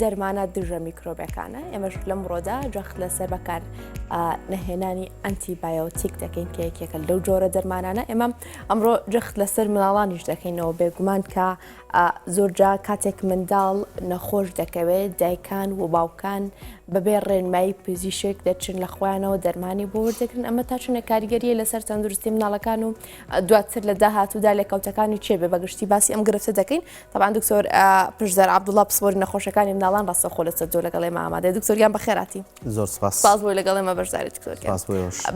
دەرمانە دژە میکرۆبەکانە ئێمەش لەم ڕۆدا جەخت لەسەر بەکار نەهێنانی ئەنتی بایۆتیک دەکەین کە یەکێکە لەو جۆرە دەرمانانە ئێمە ئەمڕۆ جەخت لەسەر مناڵانیش دەکەینەوە بێگومان کە زۆرجا کاتێک منداڵ نەخۆش دەکەوێت دایکان و باوکان بەبێ ڕێنمایی پزیشک دەچن لە خۆیانەوە دەرمانی بۆ وردەکردن ئەمە تا چونە کاریگەریە لەسەر تەندروستی مناڵەکان و دواتر لە داهاتوودا لە کەوتەکانی چێبێ بەگشتی باسی ئەم گرفتە دەکەین تەبان دکتۆر پشزار عبدوڵا پسپۆری نەخۆشەکانی مناڵان ڕاستە خۆ لەسەر جۆ لەگەڵێ مامادە دکتۆریان بەخێراتی زۆر سپاس بۆی لەگەڵێ مە بەشداری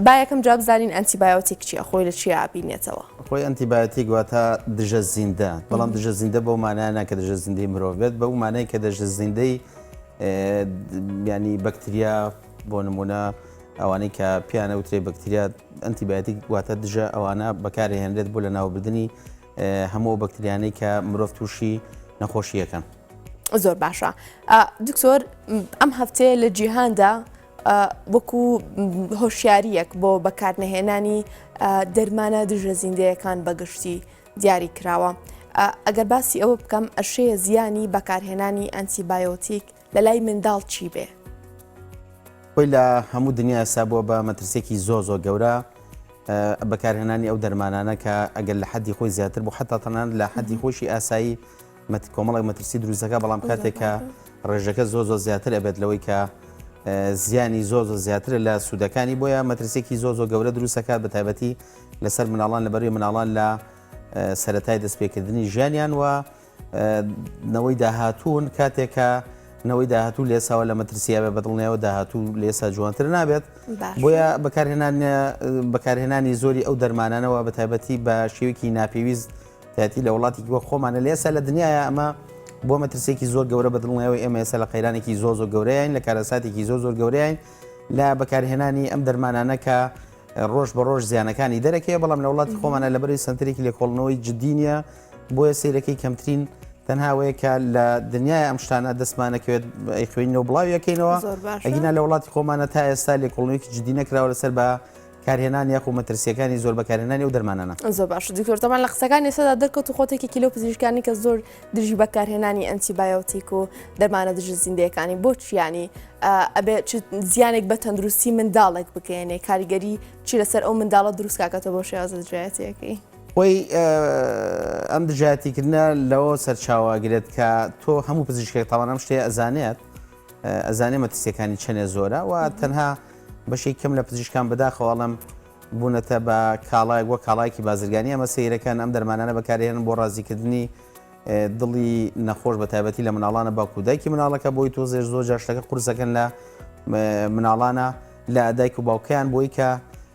با یەکەم جواب زانین ئەنتیبایۆتیک چیە خۆی لە چیا بینێتەوە خۆی ئەنتیبایەتی گواتە دژە زیندە بەڵام دژە زیندە بۆ مانایانە کە دژە زیندەی مرۆڤ بێت بەو مانای کە دەژە زیندەی ینی بەکتریا بۆ نمونە ئەوانەی کە پیانە وترێ بەکتریا ئەنتیبایەتی گواتە دژە ئەوانە بەکارهێنرێت بۆ لە ناوبردننی هەموو ئەو بەکتریانەی کە مرۆڤ تووشی نەخۆشیەکەن. زۆر باشە دکتۆر ئەم هەفتەیە لە جیهاندا وەکو هۆشیاریەک بۆ بەکارنەهێنانی دەرمانە دژە زیندەیەکان بەگشتی دیاری کراوە. ئەگەر باسی ئەوە بکەم ئەشەیە زیانی بەکارهێنانی ئەنتیبایۆتیک لەلای منداڵ چی بێ؟ خۆی لە هەموو دنیا ئێستا بووە بە مەترسیەکی زۆر زۆر گەورە بەکارهێنانی ئەو دەرمانانە کە ئەگەر لە حەدی خۆی زیاتر بۆ حتا تەنان لە حەدی خۆشی ئاسایی کۆمەڵی مەترسی دروستەکە بەڵام کاتێکە ڕێژەکە زۆ زۆ زیاتر ئەبێت لەوەی کە زیانی زۆ زۆ زیاتر لە سوودەکانی بۆیە مەترسێکی زۆ زۆ گەورە دروستەکات بە تایبەتی لەسەر مناڵان لەبەروی مناڵان لە سەتای دەستپێکردنی ژیانیان وە نەوەی داهاتوون کاتێکە نەوەی داهاتوو لێساوە لە مەترسیاوێ بەدڵنیەوە داهاتوو لێسا جوانتر نابێت بۆیە بەکارهێنان بەکارهێنانی زۆری ئەو دەرمانانەوە بە تایبەتی بە شێوکی ناپێویست دەتی لە وڵاتی وە خۆمانە لێسا لە دنیاە ئەمە بۆ مەترسێکی زۆر گەورە بەدڵنیەوە ئێمەێسە لە قەیرانێکی زۆ زۆر گەورەیان لە کارەساتێکی زۆ زۆر گەورەیان لە بەکارهێنانی ئەم دەرمانانەکە ڕۆژ بە ڕۆژ زیانەکانی دەرەکەی بەڵام لە وڵاتی خۆمانە لە بەری سنتەرێکی لێکۆڵنەوەی جددی نیە بۆیە سەیرەکەی کەمترین تەنها وەیە کە لە دنیای ئەم شتانە دەستمانەکەوێت ئەیخوێنەوە بڵاویەکەینەوە ئەگینا لە وڵاتی خۆمانە تا ئێستا لێکوڵنێکی جددی نەکراوە لەسەر بە کارهێنان یاخو مەترسیەکانی زۆر بەکارهێنانی و دەرمانانە زۆر باش دکتۆرتەمان لە قسەکانی سەدا دەرکەوت و خۆتێکی کیلو پزیشکانی کە زۆر دژی بەکارهێنانی ئەنتیبایۆتیک و دەرمانە دژ زیندەکانی بۆ چیانی ئەبێ زیانێک بە تەندروستی منداڵێک بکەێنێ کاریگەری چی لەسەر ئەو منداڵە دروستکاکەتە بۆ شێوازە دژایەتەکەی. خۆی ئەم دژایەتیکردنە لەوە سەرچاوە ئەگرێت کە تۆ هەموو پزیشکێک تاوان ئەم شتێ ئەزانێت ئەزانێ مەترسیەکانی چەنێ زۆرە و تەنها بەشێک کەم لە پزیشکان بەداخەواڵم بوونەتە بە کاڵایەک وە کاڵایکی بازرگانی ئەمە سیرەکان ئەم دەرمانانە بەکارێن بۆ ڕازیکردنی دڵی نەخۆش بە تایبەتی لە مناڵانە باکوودایکی مناڵەکە بۆی تۆ زێر زۆر جاشتەکە قورسەکەن لە مناڵانە لە دایک و باوکیان بۆی کە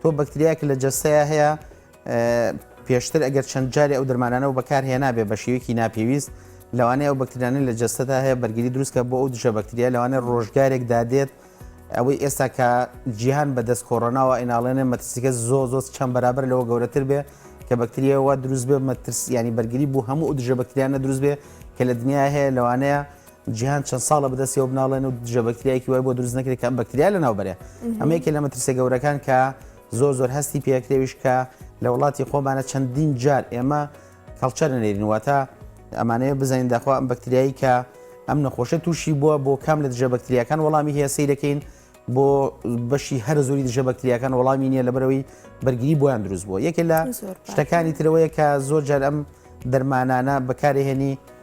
تۆ بەکتریایەک لە جەستەیە هەیە پێشتر ئەگەر چەند جاری ئەو دەرمانانەوە بەکار هێنابێ بە شێوکی ناپێویست لەوانەیە ئەو بەکتریانە لە جەستەدا هەیە بەرگری دروستکە بۆ ئەو دژە بەکتریا لەوانە ڕۆژگارێک دادێت ئەوەی ئێستا کە جیهان بەدەست کۆڕۆناوە ئیناڵێنێ مەترسیکە زۆ زۆ چەند بەرابەر لەوە گەورەتر بێ کە بەکتریەوە دروست بێ مەترس ینی بەرگری بوو هەموو دژە بەکتریانە دروست بێ کە لە دنیا هەیە لەوانەیە جیهان چەند ساڵە بەدەستی ئەو بناڵێن و دژە بەکتریایەکی وای بۆ دروست نەکرێت کە ئەم بەکتریا لە ناوبەرێ ئەمە یەکێ لە مەترسە گەورەکان کە زۆر زۆر هەستی پێکرێویش کە لە وڵاتی خۆمانە چەندین جار ئێمە کەڵچەر نێرین واتە ئەمانەیە بزانین داخوا ئەم بەکتریایی کە ئەم نەخۆشە تووشی بووە بۆ کام لە دژە بەکتریاکان وەڵامی هەیە سیرەکەین بۆ بەشی هەر زۆری دژە بەکتریاکان وەڵامی نییە لەبەرەوەی بەرگری بۆیان دروست بووە یەکێ لە شتەکانی ترەوەیە کە زۆر جار ئەم دەرمانانە بەکارهێنی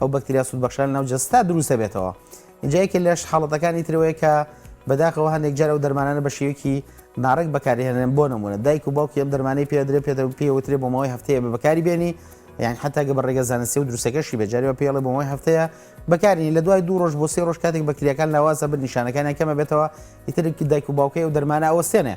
ئەو بەکتریا سوودبەخشان ناو جەستە دروست دەبێتەوە اینجا یەکێ لەش حاڵەتەکانی ترەوەیە کە بەداخەوە هەندێک جار ئەو دەرمانانە بە شێوەیەکی ناڕێک بەکارهێنن بۆ نمونە دایک و باوکی ئەم دەرمانەی پێدرێ پێ پێوترێ بۆ ماوەی هەفتەیە بە بەکاری بێنی یان حتا گە بە ڕێگە زانستی و دروستەکەشی بەجارەوە پێڵێ بۆ ماوەی هەفتەیە بەکارنی لە دوای دوو ڕۆژ بۆ سێ ڕۆژ کاتێک بەکریەکان لاوازە بن نیشانەکانیان کەمە بێتەوە ئیترکی دایک و باوکەی و دەرمانە ئەوەستێنێ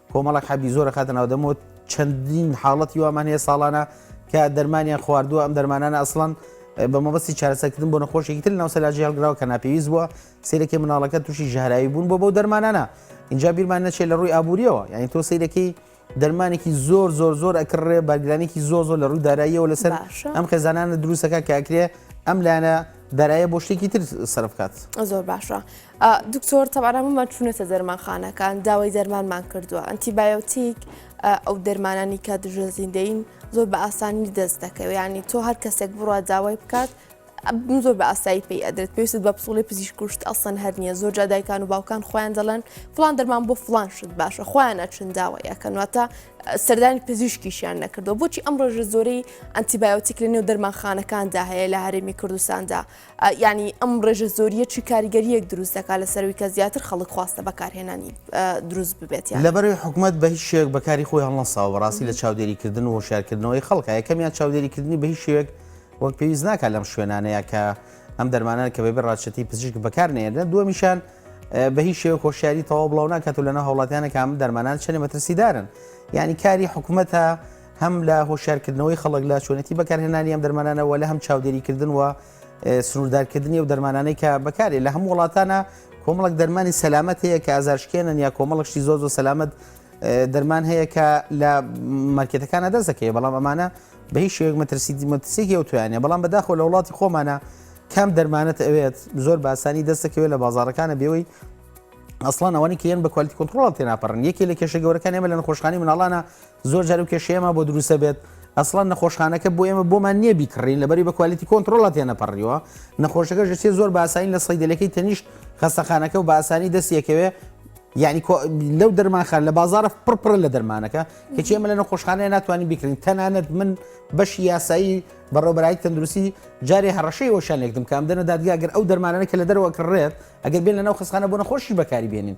کۆمەڵێک حەبی زۆر ئەخاتە ناو دەمەوە چەندین حاڵەتی وامان هەیە ساڵانە کە دەرمانیان خواردووە ئەم دەرمانانە ئەسڵەن بە مەبەستی چارەسەکردن بۆ نەخۆشێکی تر ناو سەلاجی هەڵگراوە کە ناپێویست بووە سیرەکەی مناڵەکە تووشی ژەهراوی بوون بۆ بەو دەرمانانە اینجا بیرمان نەچێت لە ڕووی ئابووریەوە یعنی تۆ سیرەکەی دەرمانێکی زۆر زۆر زۆر ئەکڕێ بەرگرانێکی زۆر زۆر لە ڕووی داراییەوە لەسەر ئەم خێزانانە دروستەکە کاکرێ ئەم لایەنە دارایە بۆ شتێکی تر سەرفکات زۆر باشە دکتۆر تەبعەن هەموومان چوونەتە دەرمانخانەکان داوای دەرمانمان کردووە ئەنتیبایۆتیک ئەو دەرمانانی کە دژە زیندەین زۆر بە ئاسانی دەست دەکەوێت ینی تۆ هەر کەسێک بڕوا داوای بکات زۆر بە ئاسایی پێی ئەدرێت پێویست بە پسڵی پزیش کوشت ئەسەن هەر نیە زۆر جادایکان و باوکان خۆیان دەڵێن فلان دەرمان بۆ فلان شت باشە خۆیان ئەچن داوای ئەکەنواتە سەردانی پزیشکیشیان نەکردو بۆچی ئەم ڕۆژە زۆری ئەنتیبایۆتیک لە نێو دەرمانخانەکاندا هەیە لە هەرێمی کوردستاندا یانی ئەم ڕێژە زۆریە چی کاریگەریەک دروست دەکات لە سەروی کە زیاتر خەڵک خواستە بەکارهێنانی دروست ببێت یان لەبەرەوەی حکومەت بە هیچ شێوەیەک بەکاری خۆی هەڵنەساوە بەڕاستی لە چاودێریکردن و هۆشیارکردنەوەی خەڵکە یەکەمیان چاودێریکردنی بە هیچ شێوەیەک وەک پێویست ناکات لەم شوێنانەیە کە ئەم دەرمانان کە بەبێ ڕادشتی پزیشک بەکار نێنە دووەمیشان بە هیچ شێوە خۆشیاری تەواو بڵاو ناکات و لەنە هەوڵاتیانە کام دەرمانان چەنێ مەترسیدارن یعنی کاری حکوومەتە هەم لە هۆشارکردنەوەی خەڵک لە چۆنێتی بەکارهێنانی ئەم دەرمانانە وە لە هەم چاودێریکردن وە سنووردارکردنی و دەرمانانەی کە بەکارێ لە هەموو وڵاتانە کۆمەڵک دەرمانی سەلامەت هەیە کە ئازارشکێنن یا کۆمەڵشتی زۆر زۆر سەلامەت دەرمان هەیە کە لە مارکێتەکانە دەستەکەی بەڵام ئەمانە بە هیچ شێک مەترسی مەترسێکی ئەو توانێ بەڵام بەداخۆ لە وڵاتی خۆمانە کام دەرمانەت ئەوێت زۆر باسانی دەستەکەوێت لە بازارەکانە بێەوەی ئەسڵان ئەوانی کێن بە کوالیتی کنترۆڵ تێناپەڕن یەکی لە کێشە گەورەکان ئێمە لە نەخۆشخانی مناڵانە زۆر جار ئەو کێشەیە ما بۆ دروستە بێت ئەسڵان نەخۆشخانەکە بۆ ئێمە بۆمان نییە بیکڕین لەبەری بە کوالیتی کۆنتترۆڵە تێنەپەڕیوە نەخۆشەکە ژسیێ زۆر باسایی لە سەیدلەکەی تەنیشت خەستەخانەکە و باسانی دەستیەکەوێ یعنی لەو دەرمانخان لە بازارە پڕپڕە لە دەرمانەکە کەچی ئەمە لە نەخۆشخانەیە ناتوانین بکرین تەنانەت من بەشی یاسایی بەڕۆبەرایی تەندروستی جارێ هەڕەشەی وەشانێکتم کام دەنە دادگاگەر ئەو دەرمانانە کە لە دەرەوە کڕێت ئەگەر بێن لە ناو خستخانە بۆ نەخۆشی بەکاری بێنین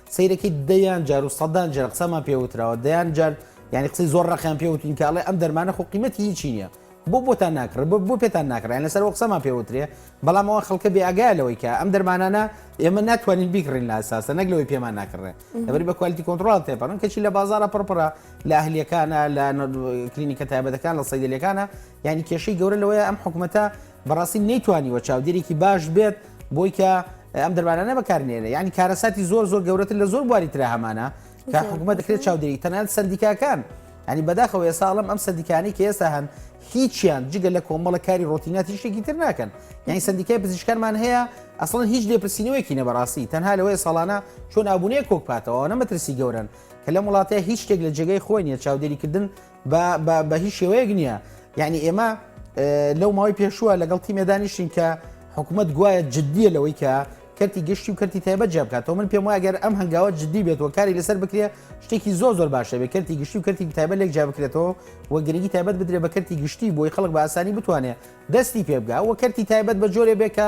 سەیرەکەی دەیان جار و سەدان جار قسەمان پێوتراوە دەیان جار یعنی قسەی زۆر ڕقیان پێوتین کە ئەڵێ ئەم دەرمانە خۆ قیمەتی هیچی نییە بۆ بۆتان ناکڕێ بۆ بۆ پێتان ناکڕێن لەسەر ئەو قسەمان پێوترێ بەڵام ئەوە خەڵکە بێ ئەگای لەوەی کە ئەم دەرمانانە ئێمە ناتوانین بیکڕین لە ئەساسە نەک لەوەی پێمان ناکڕێ لەبری بە کوالیتی کۆنتترۆڵ تێپەڕن کەچی لە بازارە پڕپڕە لە ئەهلیەکانە لە کلینیکە تایبەتەکان لە سەیدلەکانە یعنی کێشەی گەورە لەوەیە ئەم حکوومەتە بەڕاستی نەیتوانیوە چاودێرێکی باش بێت بۆی کە ئەم دەرمانانە بەکارنێنێ یعنی کارەساتی زۆر زۆر گەورەتر لە زۆر بواری تررا هەمانە کە حکوومەت دەکرێت چاودێری تەنان سندیکاکان ئەنی بەداخەوە ساڵم ئەم سندیکانی کە ئێستا هەن هیچیان جگە لە کۆمەڵە کاری ڕۆتینات هیچێکی تر ناکەن یعنی سندیکای پزیشکانمان هەیە ئەسڵ هیچ لێپرسینەوەیکی نەبڕاستی تەنها لەوەی ساڵانە چۆن ئابوونەیە کۆکپاتەوە نەمەترسی گەورن کە لەم وڵاتەیە هیچ شتێک لە جێگەی خۆی نیە چاودێریکردن بە بە بە هیچ شێوەیەک نییە یعنی ئێمە لەو ماوەی پێشووە لەگەڵ تیمێ دانیشتین کە حکوومەت گوایە جددیە لەوەی کە کەرتی گشتی و کەرتی تایبەت جیا بکاتەوە من پێم واگەر ئەم هەنگاوە جددی بێت و کاری لەسەر بکرێ شتێکی زۆ زۆر باشە بێ کەرتی گشتی و کەرتی تایبەت لێک جیا بکرێتەوە و گرنگی تایبەت بدرێ بە کەرتی گشتی بۆی خەڵک بە ئاسانی بتوانێ دەستی پێ بگا و کەرتی تایبەت بە جۆرێ بێ کە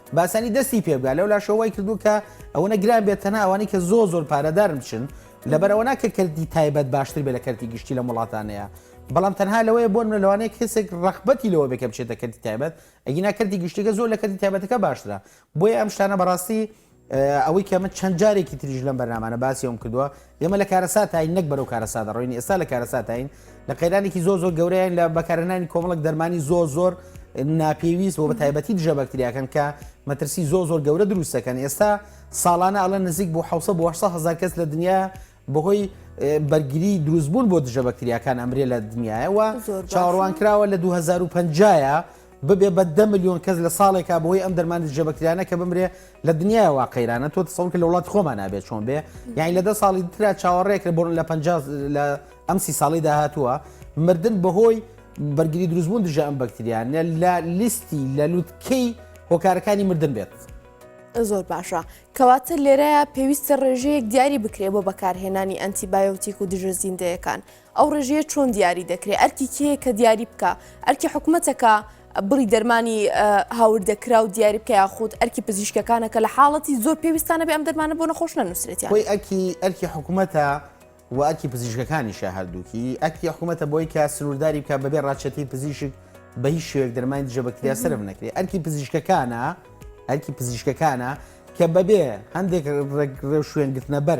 باسانی دەستی پێ بگا لەولاشەوە وای کردوو کە ئەوەنە گران بێت تەنها ئەوانەی کە زۆر زۆر پارەدارن بچن لەبەر ئەوە ناکە کردی تایبەت باشتر بێ لە کەرتی گشتی لە وڵاتانەیە بەڵام تەنها لەوەیە بۆن منە لەوانەیە کەسێک ڕخبەتی لەوە بێکە بچێتە کردی تایبەت ئەگینا کردی گشتیگە زۆر لە کردی تایبەتەکە باشترە بۆیە ئەم شتانە بەڕاستی ئەوەی کە من چەند جارێکی تریژ لەم بەرنامانە باسی ئەوم کردووە ئێمە لە کارەساتاین نەک بەرەو کارەسات دەڕۆین، ئێستا لە کارەساتاین، لە قەیرانێکی زۆر زۆر گەورەین لە بەکارهێنانی کۆمەڵێک دەرمانی زۆر زۆر ناپێویست بۆ بەتایبەتی دژە بەکتریاکەن کە مەترسی زۆر زۆر گەورە دروست دەکەن ئێستا ساڵانە ئەڵێن نزیک بۆ 600 بۆ 800 هزار کەس لە دنیا بەهۆی بەرگری دروستبوون بۆ دژە بەکتریاکان ئەمرێ لە دنیاەوە چاڕوان کراوە لە 2050ە ببێ بە دە میلیۆن کەس لە ساڵێکا بۆی ئەم دەرمانی دژە بەکتریانە کە بمرێ لە دنیای وا قەیرانە تۆ تسەور کە لە وڵات خۆمان نابێت چۆن بێ یعنی لە دە ساڵی تررا چاوەڕێکرە بۆن لە پ لە ئەم سی ساڵی داهاتووە مردن بەهۆی بەرگری دروستبوون دژە ئەم بەکتریانە لە لیستی لە لوتکەی هۆکارەکانی مردن بێت. زۆر باشە کەواتە لێرەیە پێویستە ڕێژەیەک دیاری بکرێ بۆ بەکارهێنانی ئەنتیبایۆتیک و دژە زیندەیەکان ئەو ڕێژەیە چۆن دیاری دەکرێ ئەرکی کێیە کە دیاری بکە ئەرکی حکومەتەکە بڕی دەرمانی هاوردە کرا و دیاری بکە یاخود ئەرکی پزیشکەکانە کە لە حاڵەتی زۆر پێویستانە بێ ئەم دەرمانە بۆ نەخۆش نەنووسێت خۆی ئەکی ئەرکی حکوومەتە و ئەکی پزیشکەکانیشە هەردووکی ئەکی حکوومەتە بۆی کە سنوورداری بکە بەبێ ڕاچەتی پزیشک بە هیچ شوێک دەرمانی دژە بەکتریا سرف نەکرێت ئەرکی پزیشکەکانە ئەرکی پزیشکەکانە کە بەبێ هەندێک ڕێک ڕێ شوێن گرتنە بەر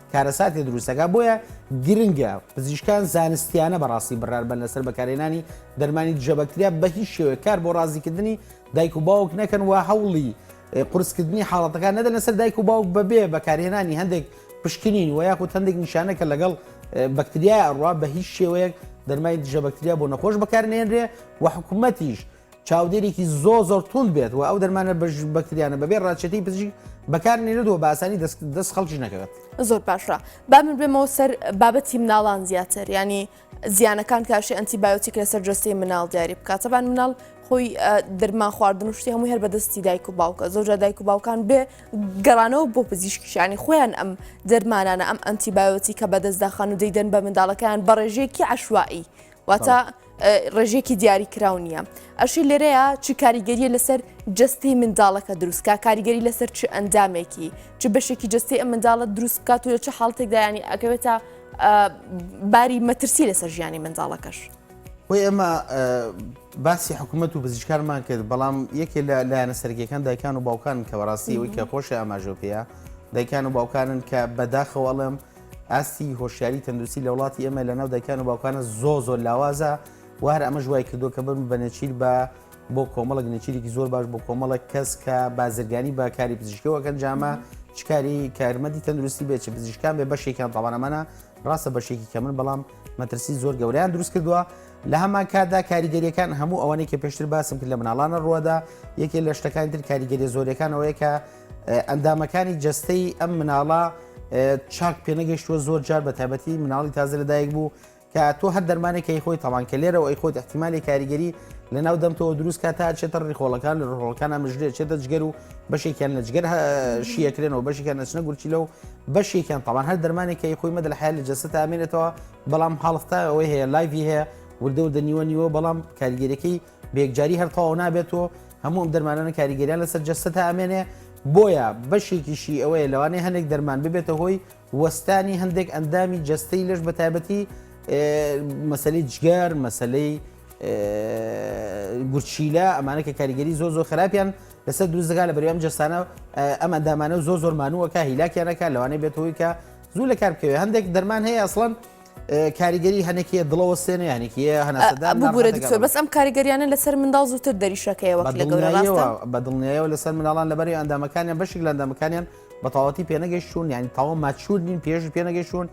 کارەساتێ دروست دەکات، بۆیە گرنگە پزیشکان زانستیانە بەڕاستی بڕیار بەن لەسەر بەکارهێنانی دەرمانی دژە بەکتریا، بەهیچ شێوەیەک کار بۆ ڕازیکردنی دایک و باوک نەکەن و هەوڵی قورسکردنی حاڵەتەکان نەدەن لەسەر دایک و باوک بەبێ بەکارهێنانی هەندێک پشکنین و یاخود هەندێک نیشانە کە لەگەڵ بەکتریای ئەڕوا بەهیچ شێوەیەک دەرمای دژە بەکتریا بۆ نەخۆش بەکارنێنرێ و حکومەتیش چاودێرێکی زۆر زۆر توند بێت و ئەو دەرمانە بەکتریانە بەبێ ڕاچێتی پزیشک بەکار نێردووە بە ئاسانی دەست خەڵکی نەکەوێت زۆر باشە با من بێمەوە سەر بابەتی مناڵان زیاتر ینی زیانەکان کاشی ئەنتی بایۆتیک لەسەر جستەی مناڵ دیاری بکاتەبان مناڵ خۆی دەرمان خواردن و شتی هەموو هەر بەدەستی دایک و باوکە زۆجا دایک و باوکان بێ گەڕانەوە بۆ پزیشکیشانی خۆیان ئەم دەرمانانە ئەم ئەنتی بایۆتی کە بەدەستداخان و دەیدەن بە منداڵەکەیان بەڕێژێکی عشوایی واتە ڕێژێکی دیاری کراو نییە ئەشی لێرەیە چی کاریگەریە لەسەر جستی منداڵەکە دروستکە کاریگەری لەسەر چ ئەندامێکی چ بەشێکی جستی ئە منداڵە دروست بکات و لە چه حاڵتێکدایانی ئەکەوێتە باری مەترسی لەسەر ژیانی منداڵەکەش بۆی ئەمە باسی حکوومەت و بزیشکارمان کرد بەڵام یەکێ لە لایەنە سەرگیەکان دایکان و باوکان کە بەڕاستی ئەوی کە خۆشی ئاماژۆ پێەیە دایکان و باوکانن کە بەداخەوەڵم ئاستی هۆشیاری تەندروستی لە وڵاتی ئێمە لە ناو دەکان و باوکانە زۆ زۆر لاوازە و هەر ئەمە ژوای کردو کە بم بە نەچیر بە بۆ کۆمەڵک نەچیرێکی زۆر باش بۆ کۆمەڵک کەس کە بازرگانی بە کاری پزیشکەوەکەن جامە چکاری کارمەندی تەندروستی بێت چ پزیشکان بێ بەشێکیان تاوانەمانە ڕاستە بەشێکی کە من بەڵام مەترسی زۆر گەوریان دروست کردووە لە هەمان کاتدا کاریگەریەکان هەموو ئەوانەی کە پێشتر باسم کرد لە مناڵانە ڕووەدا یەکێ لە شتەکانی تر کاریگەری زۆرەکانەوەیە کە ئەندامەکانی جەستەی ئەم مناڵە چاک پێنەگەشتووە زۆر جار بە تابەتی مناڵی تازە لەدایک بوو کە تۆ هەر دەرمانێک کەی خۆی تەوان کە لێرەوە ئەی خۆت احتیممالی کاریگەری لە ناو دەمتەوە دروست کا تا چێتە ڕیخۆڵەکان لە ڕۆڵەکان ئەمژێ چێتە جگەر و بەشێکیان لە جگەر شیەکرێنەوە بەشێکیان نەچنە گورچی لەو بەشێکیان تەوان هەر دەرمانێک کەی خۆی مەدە لە حال لە جەسە تامێنێتەوە بەڵام حاڵختا ئەوەی هەیە لایڤی هەیە وردە و دەنیوە نیوە بەڵام کاریگەرەکەی بەیەکجاری هەر تەواو نابێت و هەموو ئەم دەرمانانە کاریگەریان لەسەر جەستەتا ئەمێنێ، بۆیە بەشێکیشی ئەوەیە لەوانەیە هەندێک دەرمان ببێتە هۆی وەستانی هەندێک ئەندامی جەستەی لەش بە تایبەتی مەسەلەی جگەر مەسەلەی گورچیلە ئەمانە کە کاریگەری زۆ زۆ خراپیان لەسەر دروستگا لە بەریام جەستانە ئەم ئەندامانە زۆ زۆرمانوەکە هیلاکیانەکە لەوانەیە بێتەوەی کە زوو لە کار بکەوێت هەندێک دەرمان هەیە ئەسڵەن کاریگەری هەنێکی دڵەوە سێنە یانێکیە هەناسەدان بگورە دکتۆر بەس ئەم کاریگەریانە لەسەر منداڵ زووتر دەریشەکەیەوە لە گەورەوە بە دڵنیایەوە لەسەر مناڵان لەبەری ئەندامەکانیان بەشی لە ئەندامەکانیان بەتەواتی پێنەگەشتون یعنی تاوە ماچور نین پێش پێنەگەشتون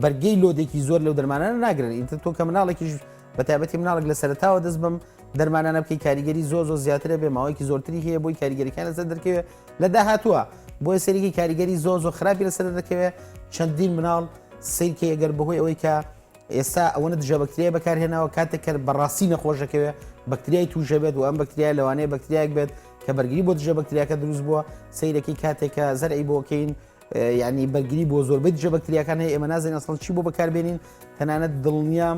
بەرگەی لۆدێکی زۆر لەو دەرمانانە ناگرن ئینتر تۆ کە مناڵێکیش بە تایبەتی مناڵک لە سەرتاوە دەست بم دەرمانانە بکەی کاریگەری زۆ زۆ زیاترە بێ ماوەیەکی زۆرتری هەیە بۆی کاریگەریەکان لەسەر دەرکەوێت لە داهاتووە بۆیە سەیرێکی کاریگەری زۆر زۆر خراپی لەسەر دەردەکەوێت چەندین مناڵ سیرکەی ئەگەر بەهۆی ئەوەی کە ئێستا ئەوەنە دژە بەکتریای بەکارهێناوە کاتێک کە بەڕاستی نەخۆشەکەوێت بەکتریای توژە بێت و ئەم بەکتریای لەوانەیە بەکتریایك بێت کە بەرگری بۆ دژە بەکتریاکە دروست بووە سیرەکەی کاتێکە زەرعی بۆکەین ینی بەرگری بۆ زۆربەی دژە بەکتریاکان هەیە ئێمە نازین ئەسڵ چی بۆ بەکاربێنین تەنانەت دڵنیام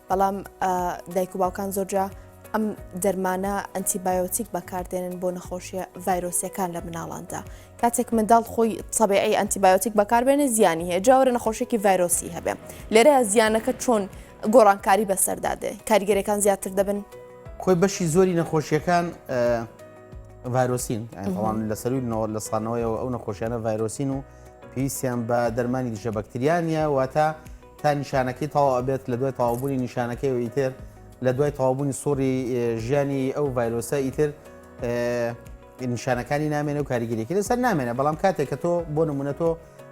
بەڵام دایک و باوکان زۆرجا ئەم دەرمانە ئەنتیبایۆتیک بەکاردێنن بۆ نەخۆشیە ڤایرۆسیەکان لە مناڵاندا کاتێک منداڵ خۆی سەبیعی ئەنتیبایۆتیک بەکاربێنێ زیانی هەیە جاوەرە نەخۆشێکی ڤایرۆسی هەبێ لێرە زیانەکە چۆن گۆڕانکاری بەسەردادێ کاریگەرەکان زیاتر دەبن کۆی بەشی زۆری نەخۆشیەکان ڤایرۆسین ئەوان لە سەروی نەوە لە سانەوەیەوە ئەو نەخۆشیانە ڤایرۆسین و پێویستیان بە دەرمانی دژە بەکتریانە واتە تا نیشانەکەی تەواو ئەبێت لەدوای تەواوبوونی نیشانەکەیەوە ئیتر لەدوای تەواوبوونی سوڕی ژیانی ئەو ڤایرۆسە ئیتر نیشانەکانی نامێنێ و کاریگەریەکە لەسەر نامێنە بەڵام کاتێک کە تۆ بۆ نمونە تۆ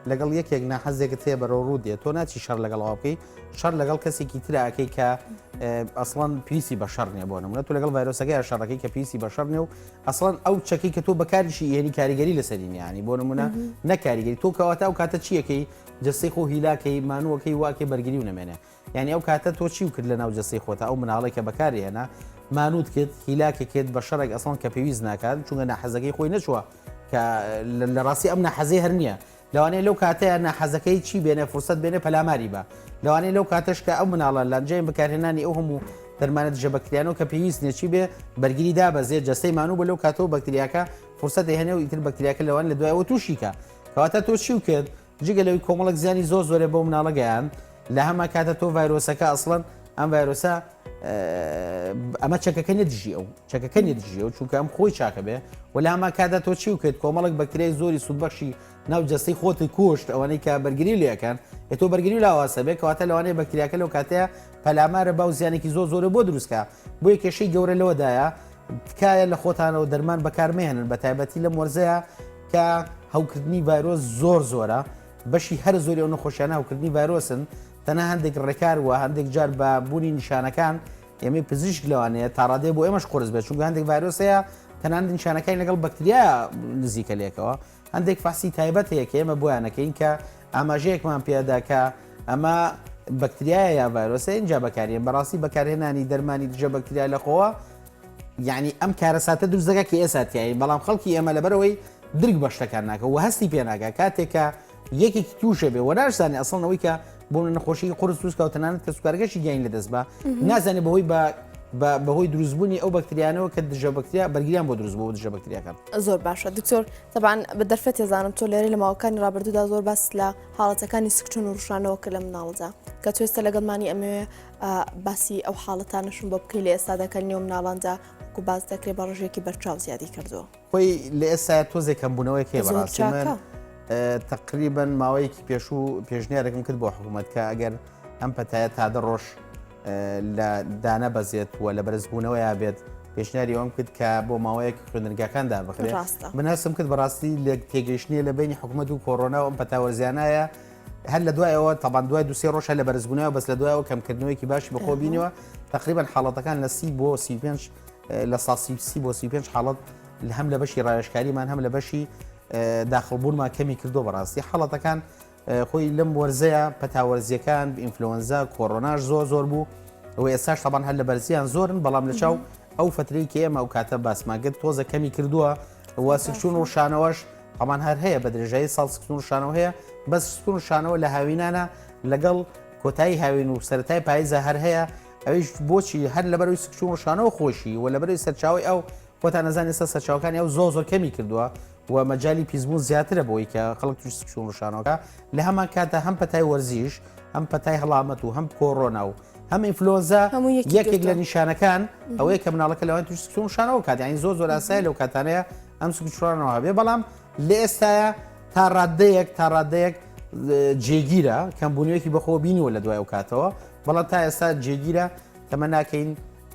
لەگەڵ یەکێک ناحەزێکت هەیە بەرەو ڕوو دێت تۆ ناچی شەر لەگەڵ ئەو بکەی شەر لەگەڵ کەسێکی تراکەی کە ئەسڵان پیسی بە شەر نیە بۆ نمونە تو لەگەڵ ڤایرۆسەکەی شەڕەکەی کە پیسی بە شەر نێ و ئەسڵان ئەو چەکی کە تۆ بەکاریشی یعنی کاریگەری لەسەرینیانی بۆ نمونە نەکاریگەری تۆ کەواتە ئەو کاتە چیەکەی جەستەی خۆو هیلاکەی مانوەکەی واکەی بەرگریو نەمێنێ یانی ئەو کاتە تۆ چیو کرد لەناو جەستەی خۆتا ئەو مناڵەی کە بەکاری هێنا مانوت کرد هیلاکە کرد بە شەڕێک ئەسڵان کە پێویست ناکات چونگە ناحەزەکەی خۆی نەچووە کە لە ڕاستی ئەم ناحەزەی هەر نییە لەوانەیە لەو کاتەیە ناحەزەکەی چی بێنێ فرسەت بێنێ پەلاماری بە لەوانەیە لەو کاتەش کە ئەو مناڵە لانجیان بەکارهێنانی ئەو هەموو دەرمانە دژە بەکتریانەوە کە پێویست نێچی بێ بەرگری دابەزێ جەستەی مانوو بە لەو کاتەوە بەکتریاکە فرسەتی هەنێ و ئیتر بەکتریاکە لەوان لە دوایەوە تووشیکە کەواتە تۆ چی و کرد جگە لەوەی کۆمەڵک زیانی زۆر زۆرێ بۆ مناڵە گەیان لە هەما کاتە تۆ ڤایرۆسەکە ئەسڵەن ئەم ڤایرۆسە ئەمە چەکەکە نەدژی ئەو چەکەکە نەدژی و چونکە ئەم خۆی چاکە بێ و لە هەما کادا تۆ چی و کرد کۆمەڵک بەکتریای زۆری سوودبەخشی ناو جەستەی خۆتی کوشت ئەوانەی کە بەرگری لەکەن ئەتۆ بەرگری لاواسە بێ کەواتە لەوانەیە بەکتریاکە لەو کاتەیە پەلامارە باو زیانێکی زۆر زۆرە بۆ دروستکە بۆ کێشەی گەورە لەوەدایە تکایە لە خۆتانەوە دەرمان بەکارمێنن بە تایبەتی لە مۆرزەیە کە هەوکردنی ڤایرۆس زۆر زۆرە بەشی هەر زۆری ئەو نەخۆشیانە هەوکردنی ڤایرۆسن تەنە هەندێک ڕێکار وە هەندێک جار بە بوونی نیشانەکان ئێمەی پزیشک لەوانەیە تاڕادێ بۆ ئێمەش قرس بێت چونگە هەندێک ڤایرۆسەیە تەنان نیشانەکانی لەگەڵ بەکتریا نزیکە لێکەوە هەندێک فاسی تایبەت هەیە کە ئێمە بۆیانەکەین کە ئاماژەیەکمان پێداکە ئەمە بەکتریایە یا ڤایرۆسە اینجا بەکارێن بەڕاستی بەکارهێنانی دەرمانی دژە بەکتریا لەخۆوە یەعنی ئەم کارەساتە دروست دەکات کە ئێستا تیایین، بەڵام خەڵکی ئێمە لەبەرئەوەی درک بە شتەکان ناکە و هەستی پێ ناکا کاتێک کە یەکێکی تووشێ بێ و ناشزانێ ئەسڵەن ئەوەی کە بۆ نەخۆشی قورس دروست کە و تەنانەت کەسوکارەکەشی گیانی لەدەست بە نازانێ بەهۆی بە بەهۆی دروستبوونی ئەو بەکتریانەوە کە دژە بەکتریا بەرگیان بۆ دروست بۆ دژە بەکتریاکان زۆر باشە دکتۆر تەبان بە دەرفەت تێزانم تۆ لێرە لە ماوەکانی ڕابردوودا زۆر باس لە حاڵەتەکانی سکچون و ڕشانەوە کە لە مناڵدا کە توێستە لەگەڵمانی ئەمەوێ باسی ئەو حاڵەتانەشم بۆ بکەی لە ئێستادا کە نێو مناڵاندا وەکو باس دەکرێ بە ڕژێکی بەرچاو زیادی کردووە خۆی لە ئێستا تۆزێک کەمبوونەوەی کێ بەڕاستی من تقریبا ماوەیەکی پێشوو پێشنیارێکم کرد بۆ حکوومەت کە ئەگەر ئەم پەتایە تا دە ڕۆژ لە دانە بەزێت و لە بەرزبوونەوەیا بێت پێشنیاری ئەوم کرد کە بۆ ماوەیەک خوێنرگاکاندا بخرێت من هەستم کرد بەڕاستی لێک تێگەیشتنیە لە بینی حکوومەت و کۆرۆنا و ئەم پەتاوەرزیانایە هەر لە دوای ئەوە تابان دوای دوسێ ڕۆژ لە بەرزبوونەوە بەس لە دوایەوە کەمکردنەوەیکی باشی بەخۆ بینەوە تقریبان حاڵەتەکان لە سی بۆ سی پێنج لە ساسی سی بۆ سی پێنج حاڵەت هەم لە بەشی ڕایشکاریمان هەم لە بەشی داخڵبوونمان کەمی کردو بەڕاستی حاڵەتەکان خۆی لەم وەرزەیە پەتاوەرزیەکان ئینفلۆنزا کۆرۆناش زۆر زۆر بوو و ئێستاش تابان هەر لە بەرزیان زۆرن بەڵام لە چاو ئەو فترەی کە ئێمە ئەو کاتە باسماگەت تۆزە کەمی کردووە و سکچون و شانەوەش هەمان هەر هەیە بە درێژایی ساڵ سکتون شانەوە هەیە بەس سکتون شانەوە لە هاوینانە لەگەڵ کۆتایی هاوین و سەرای پاییزە هەر هەیە ئەویش بۆچی هەر لەبەرەوەی سکچون شانەوە خۆشی و لەبەری سەرچاوی ئەو خۆتان نەزانانی سە سەرچاوکانی ئەو زۆ زۆر کەمی کردووە و مەجای پیسبوون زیاترە بۆی کە خەڵک توش سکچون شانەوەکە لە هەمان کاتە هەم پەتای وەرزیش ئەم پەتای هەڵامەت و هەم کۆڕۆنا و هەم ئینفلۆنزا هەموو یەکی یەکێک گرتووە. لە نیشانەکان ئەوەیە کە مناڵەکە لەوان توش سکچوم شانەوە کات یانی زۆر زۆر ئاسای لەو کاتانەیە ئەم سکچوانەوە هەبێ بەڵام لە ئێستاە تا ڕاددەیەک تا ڕاددەیەک اه، جێگیرە کەم بوونیەکی بەخۆ بینیوە لە دوای ئەو کاتەوە بەڵام تا ئێستا جێگیرە تەمە ناکەین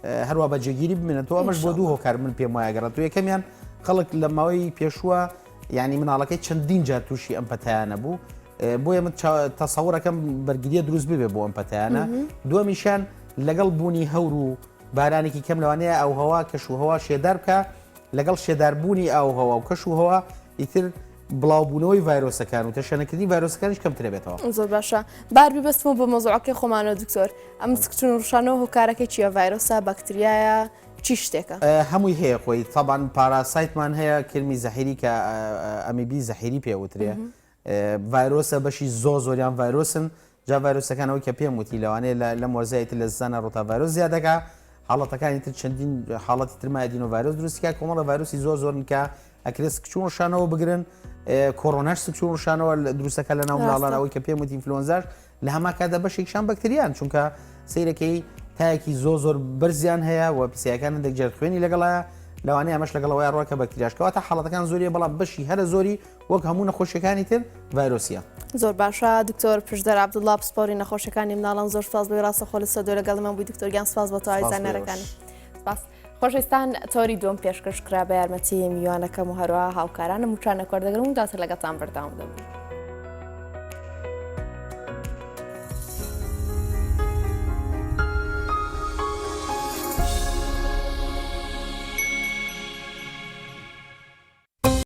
اه، هەروە بە جێگیری بمێنێتەوە ئەمەش بۆ دوو هۆکار من پێم وایە گەڕێت و یەکەمیان خەڵک لە ماوەی پێشووە یعنی مناڵەکەی چەندین جار تووشی ئەم پەتایانە بوو بۆیە من تەسەورەکەم بەرگریە دروست ببێ بۆ ئەم پەتیانە دومیشان لەگەڵ بوونی هەور و بارانێکی کەم لەوانەیە ئەو هەوا کەش و هەوا شێدار بکە لەگەڵ شێداربوونی ئاو هەوا و کەش و هەوا ئیتر بڵاوبوونەوەی ڤایرۆسەکان و تەشەنەکردنی ڤایرۆسەکانش کەمترە بێتەوە زۆر باشە بار ببستمە بە مەزۆعەکەی خۆمانەوە دکتۆر ئەم سکچون ڕشانەوە هۆکارەکە چیە ڤایرۆسا بەکتریایە چی شتێکە هەمووی هەیە خۆی تەبان پاراسایتمان هەیە کرمی زەحیری کە ئەمیبی زەحیری پێوترێ ڤایرۆسە بەشی زۆر زۆریان ڤایرۆسن جا ڤایرۆسەکان ئەوەی کە پێم وتی لەوانەیە لە لەم وەرزەی تر لە زستانە ڕۆتا ڤایرۆس زیاد دەکا حاڵەتەکانی تر چەندین حاڵەتی تر مایدینۆ ڤایرۆس دروستی کا کۆمەڵە ڤایرۆسی زۆر زۆرن کە ئەکرێت سکچوون ڕشانەوە بگرن کۆرۆناش سکچوون ڕشانەوە دروستەکە لە ناو منداڵانەوەی کە پێم وتی ئینفلۆنزاش لە هەمان کاتدا بەشێکیشان بەکتریان، چونکە سەیرەکەی تایەکی زۆر زۆر بەرزیان هەیە و پیسایەکان هەندێک جار خوێنی لەگەڵایە، لەوانەیە ئەمەش لەگەڵ ئەوەیە ڕووە کە بەکتریاش کەواتە حاڵەتەکان زۆریە بەڵام بەشی هەرە زۆری وەک هەموو نەخۆشیەکانی تر ڤایرۆسیە. زۆر باشە دکتۆر پشدەر عبدوڵا پسپۆری نەخۆشیەکانی مناڵان زۆر سپاس بۆی ڕاستەخۆ لە سەدۆ لەگەڵمان بووی دکتۆرگیان سپاس بۆ تەواوی زانیارەکان. خۆشەویستان تۆری دووەم پێشکەش کرا بە یارمەتی میوانەکەم و هەروە هاوکارانم وچانە کۆردەگرم و داتە لەگەڵتان بەرداوم دەبن.